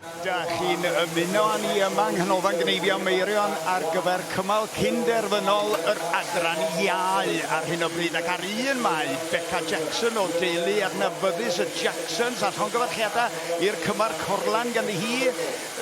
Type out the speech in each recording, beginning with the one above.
Da chi'n ymuno â ni yma yng Nghanolfan Gneifio Meirion ar gyfer cymal cyn-derfynol yr Adran Iau ar hyn o bryd ac ar un mae Beca Jackson o deulu adnabyddus y Jacksons a llongyfarchiadau i'r cymar corlan ganddi hi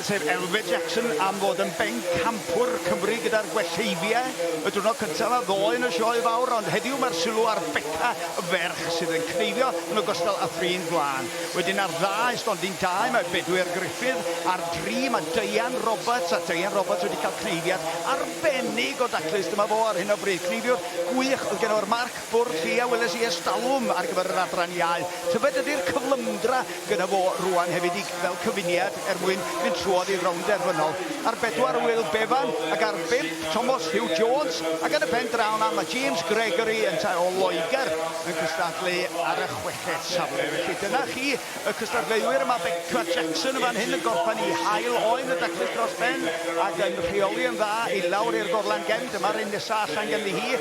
sef Elfed Jackson am fod yn bencampwr Cymru gyda'r Gwelleifiau y diwrnod cyntaf a ddoe yn y sioe fawr ond heddiw mae'r sylw ar Beca y ferch sydd yn cneifio yn ogystal â thrin gwlân. Wedyn ar dda i stondin dau mae Bedwyr Gruffydd, ar dri mae Deian Roberts, a Deian Roberts wedi cael cneiddiad arbennig o daclus, dyma fo ar hyn o bryd, cneifiwr gwych oedd geno ar Marc Bwrdd Lli a weles i ers talwm ar gyfer yr adran iau. Tyfed ydy'r cyflymdra gyda fo rwan hefyd i fel cyfuniad er mwyn mynd trwodd i'r rownd derfynol. Ar bedwar Wil Bevan ac ar bump Tomos Hugh Jones ac yn y pen draw 'na mae James Gregory yntau o Loegr yn cystadlu ar y chweched safle. Felly dyna chi y cystadleuwyr. Mae Beca Jackson yn fan hyn yn gorffen i hael oen y daclus dros ben ac yn rheoli yn dda i lawr i'r gorlan gefn. Dyma'r un nesaf allan ganddi hi.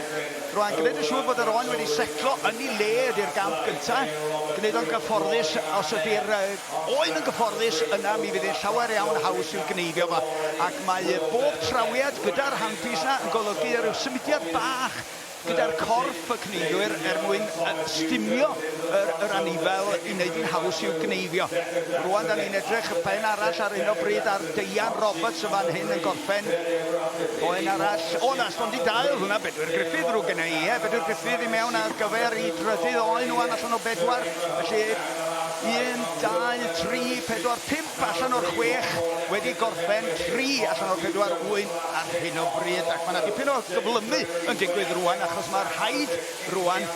Rwy'n gwneud yn siŵr bod yr oen wedi setlo yn ei le ydy'r gamp gyntaf. Gwneud o'n gyfforddus, os ydy'r oen yn gyfforddus, yna mi fydd yn llawer iawn haws i'w gneifio fo. Ac mae bob trawiad gyda'r handpiece yna yn golygu rhyw symudiad bach gyda'r corff y gneifwyr er mwyn stumio yr, yr anifel i wneud hi'n haws i'w gneifio. Rwan da ni'n edrych ben arall ar hyn o bryd ar Deian Roberts yn fan hyn yn gorffen. Oen arall, o na, stondin dail, hwnna Bedwyr Griffith rhyw gynnau, ie, Bedwyr Griffith i mewn ar gyfer i drydydd oen rwan allan o bedwar, felly 1, 2, 3, 4, 5 Allan o'r chwech wedi gorffen, tri allan o'r pedwar ŵyn ar hyn o bryd, ac mae yna dipyn o gyflymu yn digwydd rŵan achos mae rhaid rŵan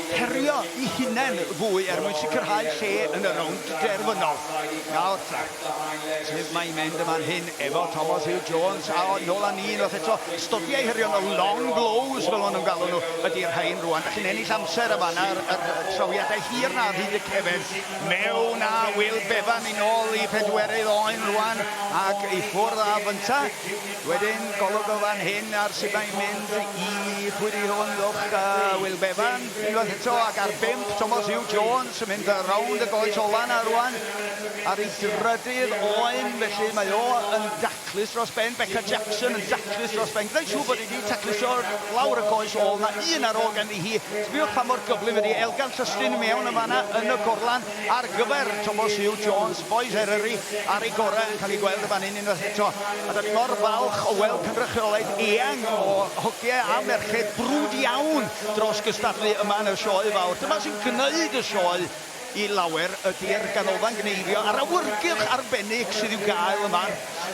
herio i hunain fwy er mwyn sicrhau lle yn y rownd derfynol. Nawr ta, sef mae'n mynd y man hyn efo Thomas Hugh Jones a nôl â ni unwaith eto, stofiau hirionnol, long blows fel maen nhw'n galw nhw, ydy'r rhain rŵan. Felly yn ennill amser y fan ar yr trawiadau hir na ar hyd y cefn. Mewn a wyl bevan yn ôl i phedwerydd oen rwan ac i ffwrdd a fynta. Wedyn golwg o fan hyn ar sut mae'n mynd i chwiri hwn uwch a wyl bevan unwaith eto ac ar bump Tomos Hugh Jones yn mynd rownd y goes ola na rwan ar ei drydydd oen felly mae o yn Taclus dros ben, Becca Jackson yn daclus dros ben, gwneud siŵr bod hi wedi taclusio lawr y goes ôl, na un ar ôl ganddi hi, sbïwch pa mor gyflym ydi Elgan Llystyn i mewn yn fanna yn y gorlan ar gyfer Tomos Huw Jones, Boys Eryri ar ei gorau yn cael ei gweld yn fan hyn unwaith eto, a da ni mor falch o weld cynrychiolaeth eang o hogiau a merched brwd iawn dros gystadlu yma yn y Sioe Fawr, dyma sy'n gwneud y Sioe i lawer ydy'r Ganolfan Gneifio a'r awyrgylch arbennig sydd i'w gael yma.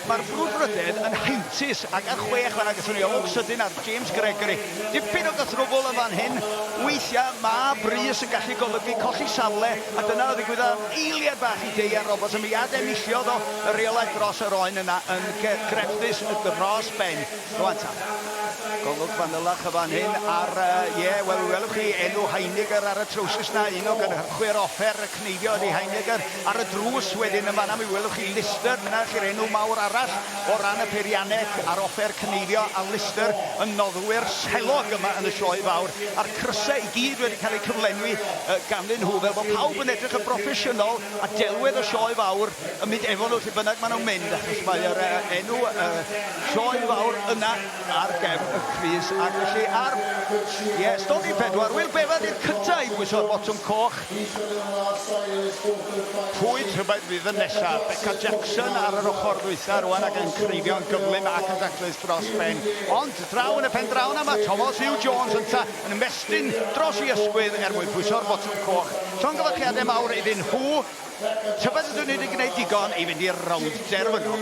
Mae'r brwdfrydedd yn heintus a gan chwe chwarae gyda ni Oak Sydyn ar James Gregory. Dipyn o gythrwbl yn fan hyn, weithiau mae brys yn gallu golygu colli safle a dyna ddigwyddodd am eiliad bach i Deia Roberts a mi ad-enilliodd o y rheolau dros yr oen yna yn grefftus dros ben. Rwan ta. Golwg fanylach y fan hyn ar, ie, yeah, wel, welwch chi enw Heiniger ar y trowsus na, un o gynhyrchwyr offer y cneifio ydy Heiniger. Ar y drws wedyn yn fanna mi welwch chi Lister, dyna chi'r enw mawr arall o ran y peirianneg a'r offer cneifio, a Lister yn noddwyr selog yma yn y sioe fawr, a'r crysau i gyd wedi cael eu cyflenwi uh, ganddyn nhw, fel bod pawb yn edrych yn broffesiynol, a delwedd y sioe fawr yn mynd efo nhw lle bynnag maen nhw'n mynd, achos mae'r uh, enw uh, Sioe fawr yna ar gefn y crys ac felly ar... Ie, Stondin pedwar. Wil Bevan i'r cynta' i bwyso'r botwm coch. Pwy tybed fydd y nesa'? Beca Jackson ar yr ochr ddwytha' rwan ac yn creifio yn gyflym ac yn daclus dros ben. Ond draw yn y pen draw 'na ma' Tomos Huw Jones ynta' yn ymestyn dros 'i ysgwydd er mwyn pwyso'r botwm coch. Llongyfarchiade mawr iddyn nhw. Tybed ydw nid yn gwneud digon i fynd i'r rownd derfynol?